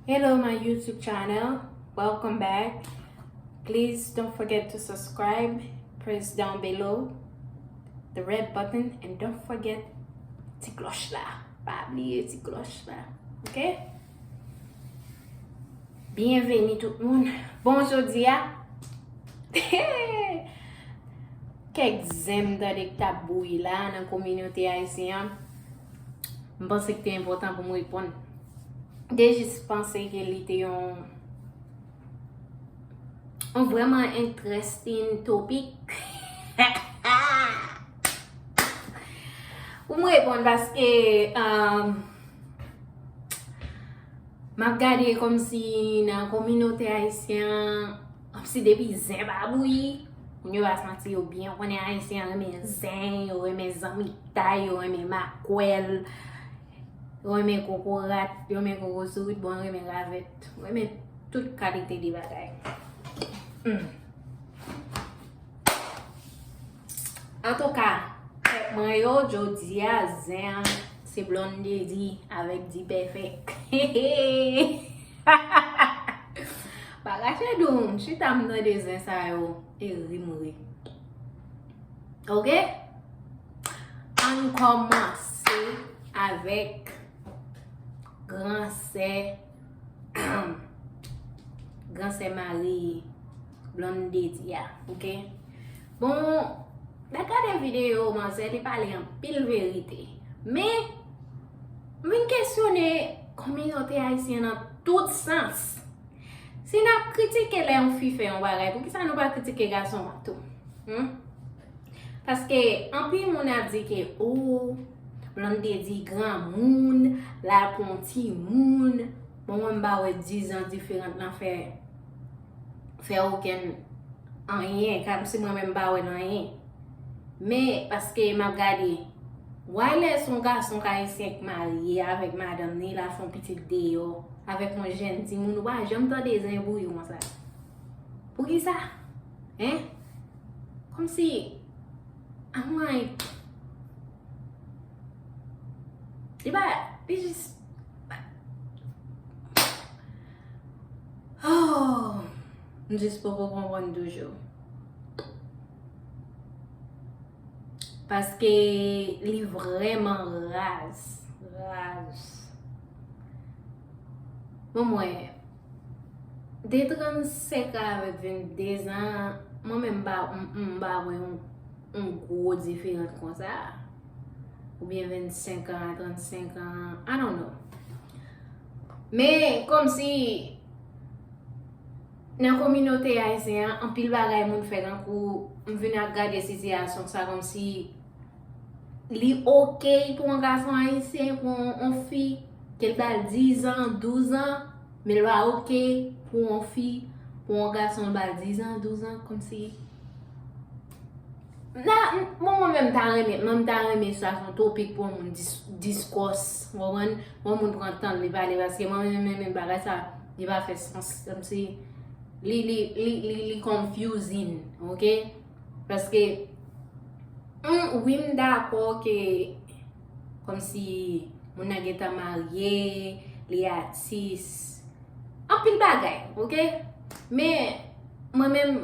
Hello my YouTube channel, welcome back. Please don't forget to subscribe, press down below the red button and don't forget ti kloch la. Pa bliye ti kloch la. Ok? Bienvenue tout moun. Bon jodi a. Kek zem dade k tap bouyi la nan kominote ayisyen an. m panse ki te enpòtan pou m reponn. M te jis panse ke li te yon yon vreman entrestin topik. Pou m reponn paske euh, m ap gade kòm si nan kominote ayisyen an Si depi zen pa bouyi, moun yo va santi yo byen. Ou konnen Ayisyen an renmen zen, yo renmen zanmitay, yo renmen makwèl, yo renmen kokorat, yo renmen kokosorit, bon yo renmen ravèt. Yo renmen tout kalite de bagay. Antouka pèp mwen yo jodia zen an se Blondedy avèk Dpèfèk hehehehehehehe Bagay fè dou m chita m tande zen sa yo e ri m ri ok ann kòmanse avèk gran sè humm gran sè Marie. Blonde di a ok Bon Mwen gade video manzè li pale anpil verite Men M vin kesyone kominote ayisyen nan tout sans Si n ap kritike lè yon fi fè yon bagay poukisa nou pa kritike gason an tou Hum Paske anpil moun ap di ke ooh Blonde di granmoun L al pran yon timoun Bon mwen m pa wè dizan diferant nan fè fè okenn anyen, kòm si mwen menm m pa wè nan anyen. Men, paske m ap gade, why lè s on gason k ayisyen k marye avèk madanm ni l al fè on pitit deyò avèk on jenn timoun, ou pa janm tande zen bouyi konsa? Poukisa? Hein? Kòm si, an mwen, li pa, li jis, Oohh m jis poko konprann toujou. Paske li vreman raz. Raz. Bon mwen, de 35 a avèk 22 zan, mwen menm m pa, m pa wè yon gwo diferans konsa. Oubyen 25 a, 35 a, I don't know. Men, kòmsi nan kominote ayisyen an, anpil bagay moun fè nan kou m vin ap gade sitiyasyon sa kòmsi li okey pou yon gason ayisyen pran yon fi ke l ba l dizan, douzan, men l pa okey pou yon fi pran yon gason l ba l dizan, douzan, kòmsi. La, bon mwen menm ta renmen, mwen m ta renmen sa son topik pou yon moun diskòs, ou konprann? Pou yon moun pran tan li pale paske mwen menm menm menm bagay sa li pa fè sans. Kòm si li li li li li confusing, ok? Paske m wi m dakò ke Kòmsi moun nan gentan marye, li atis. Anpil bagay, ok? Men, mwen menm,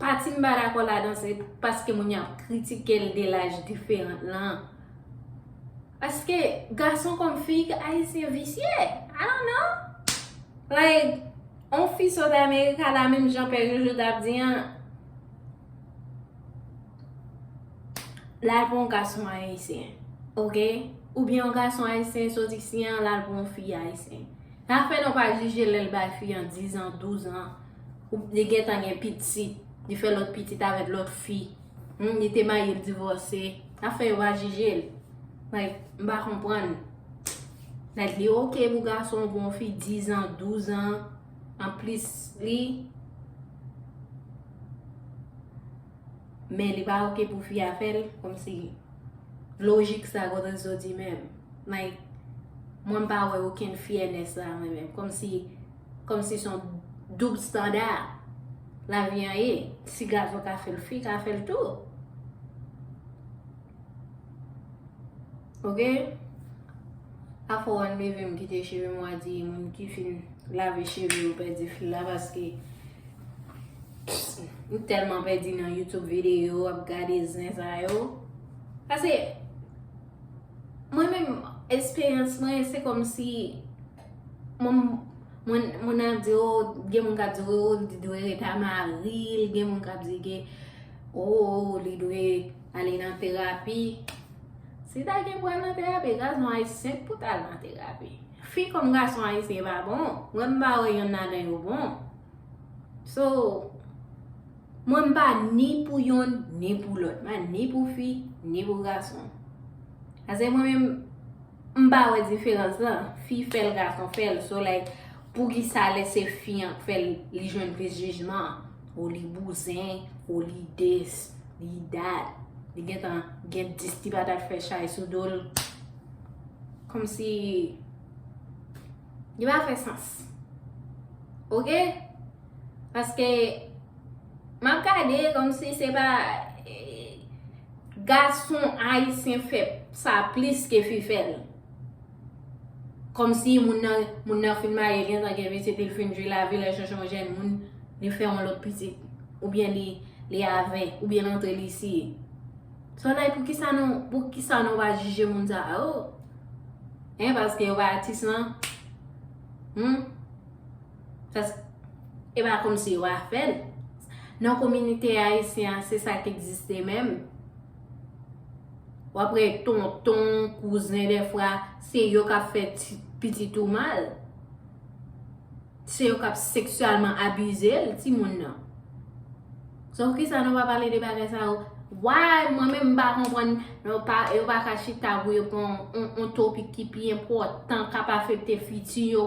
pati m pa dakò ladan se paske moun yo ap kritike l de laj diferan lan. Paske, gason kòm fi, Ayisyen visye. I don't know. Like, yon fi sot Amerika la, menm jan Pè Jojo t ap di an. Lal pou yon gason ayisyen ok oubyen yon gason ayisyen sot isi an lal pou yon fi ayisyen sa fè nou pa jije lèl bay fi an 10 ans 12 ans ou li gentan gen pitit li fè lòt pitit avèk lòt fi hum li te marye li divòse sa fè yo pa jijel like m pa konprann like li ok pou gason pou yon fi 10 ans 12 ans anplis li Men li pa ok pou fi a fèl komsi lojik sa kote l soti menm. Like mwen m pa wè okenn fyènes la mwen menm. Komsi komsi son doub standa lavi an ye. Si gason ka fèl fi ka fèl tou. Ok Afo wan levem kite chevem wa di moun ki fin lave cheve yo pèdi fil la paske m telman pèdi nan youtube video ap gade zen sa yo paske mwen men esperyans mwen se kom si mwen mwen ap di ou gen moun kap di ou li dwe reta maril gen moun kap di ke ou li dwe Ale nan terapi. Si ta gen pou al nan terapi, gaz nou ayisyen k pou ta al nan terapi. Fi kòm gason ayisyen pa bon. Mwen m pa wè yonn ladan yo bon. So, mwen m pa ni pou yonn, ni pou lòt. Mwen ni pou fi, ni pou gason. Ase mwen menm. M pa wè diferans lan, fi fèl gason fèl, so like poukisa lè se fi an k fèl li jwenn plis jijman, oh li bouzen, oh li this, li that, li gentan gen 10 ti patat fè chay sou dol, kòmsi li pa fè sans ok, paske map gade kòmsi se pa. Gason ayisyen fè sa plis ke fi fè l. Kòmsi moun nan moun nan fin marye gentan gen pitit epi l fin jwi lavi l al chèche yon jèn moun li fè yon lòt pitit oubyen li avè oubyen l antre li siye. Sa w la poukisa nou poukisa nou pa jije moun sa yo? Hein paske yo pa atis lan? Humm. Pask e pa kom si yo a fèl. Nan kominite ayisyen an se sa k egziste menm. Wap wè tonton, kouzen dèfwa se yo kap fè pitit ou mal. Se yo kap seksyalman abize l, ti moun nan. Sa pou kisa nou pa pale de bagay sa yo? Why mwen menm m pa konprann yo pa ka chita pou yo pran yon topik ki pi enpòtan kap afekte fiti yo.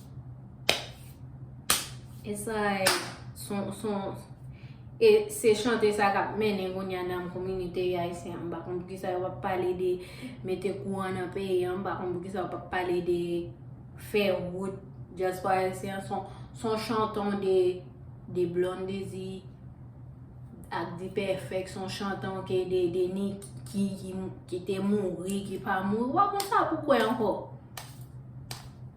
E sa e son, son, e se chante sa kap mennen kounye a nan kominote ayisyen an. M pa konn pou kisa yo pa pale de mete kouran nan peyi an, m pa konn pou kisa yo pa pale de fè wout dyaspora ayisyen an. Son chanton de, de Blondedy ak D-Perfect, son chanton ke de, de Nicky ki te mouri, ki pa mouri. Ou pa konn sa pou kwe anko.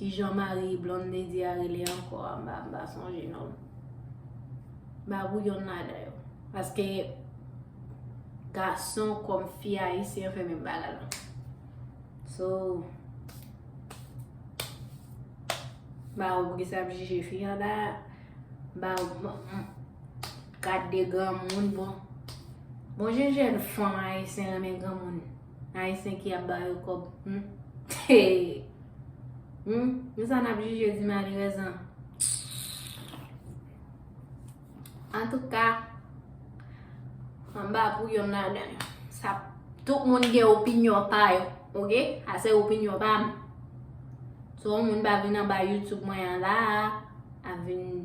Kijan mari Blondedy a rele ankò a mba mba sonje non. Mba wou yon ladan yo. Paske gason kom fi ayisyen yo fè menm bagay la. So mba wou ki sa ap jije fi an da mba wou kat de granmoun bon. Bon jen jen fanm ayisyen renmen granmoun. Ayisyen ki ap ba yo kob humm hee humm nou sa nap jije di malerèz an antouka anba pou yonn ladan yo sa tout moun gen opinyon pa yo ok sa se opinyon pa m so yon moun pa vin anba youtube mwen an la a ap vin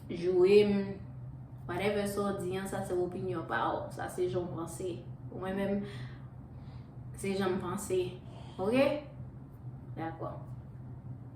joure m, whatever sa w di an, sa se opinyon pa w, sa se jan w panse. Pou mwen menm, se jan m panse. Ok? Dakò.